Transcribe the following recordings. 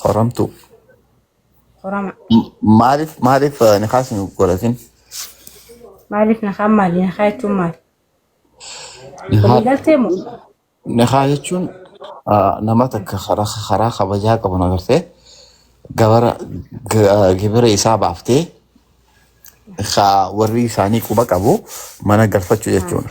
Horamtuu. Horama. Maaliif maaliif nikaa isin godhatin? Maaliif nakaa maali? Nakaa jechuun maali? Walii Nikaa galtee moo? nikaa jechuun ah, nama takka karaa karaa kabajaa qabu agartee gabara ga- gibira isaa baaftee ka warri isaanii quba qabu mana galfachuu jechuudha.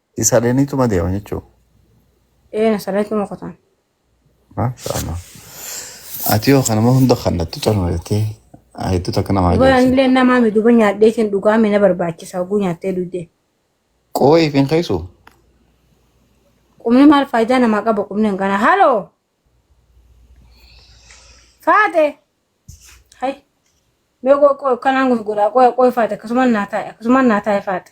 Isaaniituma deema jechuudha. Ee nasarreetuma qotaan. Maasha Allah. Ati yoo kanuma hunda kannattu calma jettee hedduu takka namaa Duba ajaa'ibsiisa. anillee namaa mi duba nyaadhee tiin dhugaa mi na barbaachisa oguu nyaattee duudee. Qooyi fi hin keessu. Qubni maal faayidaa namaa qaba qubni hangana. Haloo! Faate! Hai! Mee qoo qoo kanaan gurguraa qoo qoo faate akkasumaan naa taa'e akkasumaan naa taa'e faate.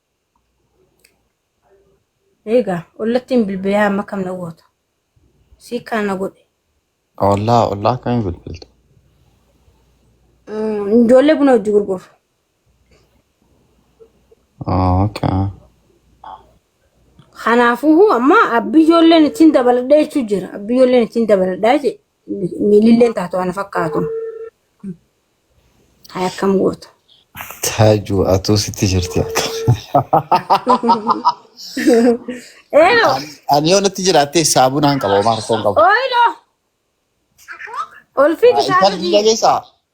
Eegaa ollattiin bilbilaa amma kam na gootu. Sii kaan na godhe. Ollaa ollaa akkamii bilbilta? Mm, Ijoollee buna hojii gurguru. Oh, okay. Kanaafuu amma abbi ijoolleen ittiin dabaladha jechuu jira. Abbi ijoolleen ittiin dabaladha jee. Miililleen taatu ana fakkaatu. Hay akkam gootu. Taaju atuu sitti jirti akka. Eelo. Ani yoo natti jiraattee saabunaan qaba homaa harkoon qaba. Oilo. Olfii Intalli kisaatu biyya keessaa.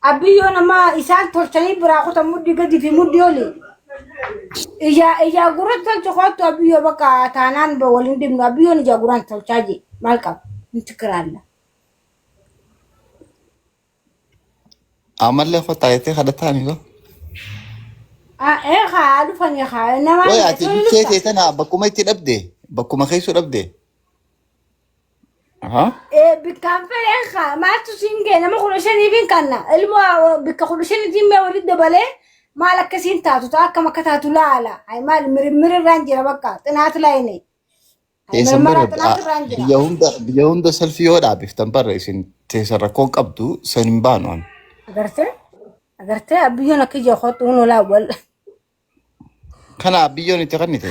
Abbiyyoon amma isaan tolchanii biraa kutan muddi gadi fi muddi oli. Ijaa ijaa gurratti tolcha koottu abbiyyoo bakka taanaan ba- waliin dhibnu abbiyyoon ijaa guraan tolchaa jee maal qaba nuti kiraalla. Ammallee kottaa jettee kadhataa miko. Ah, Ee haa dhufanii haa namaan Way ati jechuun bichee dhufta. kee tana bakkuma itti dhabde bakkuma keessu dhabde. Ahaa. Eh, bikkaan fedheen kaa maaltu siin ga'e nama kudha shaniifin kanna ilmoo ah, bikka kudha shaniitiin mee walitti dabalee maal akka siin taatu ta'a akkam akka taatu laala ay maal mirmir irraan jira bakka xinaat laayine Teessan bara mirmara xinaat irraan jira biyya hunda biyya hunda salfii yoo dhaabiftan bara isin teessan rakkoon qabdu san hin baanu an. agartee agartee abbiyyoon akka ija kootu hunulaa wal Kana biyyoon itti kannite.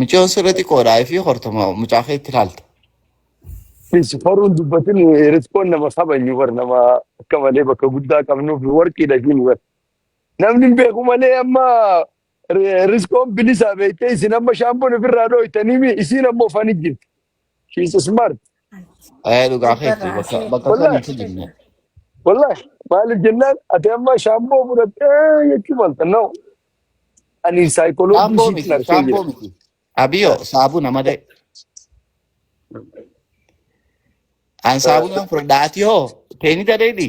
Micoon sirra xiqqoodha fi hortoma mucaa kee itti ilaalta. Is horuun dubbatin riskoon nama kabajnu bar nama akka malee bakka guddaa qabnuuf warqiidha ishiin bar. Namni hin beeku malee amma ri- riskoon bilisaa beektee isin amma shaampoon ofirraa dhooytanii mi isiin ammoo fani jirti. She is smart. Ee dhugaa keetti Jabbarraa bakka seet bakka Wallahi. kamitti seet jirna. Wallahi. Maaliif jennaan ati amma shaamboo fudhattee jechuu malta. No. Ani saayikoloojii Shaamboo ishiitiin miti argee jira. shaamboo miti. Abiyoo saabuna malee an saabuna fudhadha ati hoo teenita dheedhi.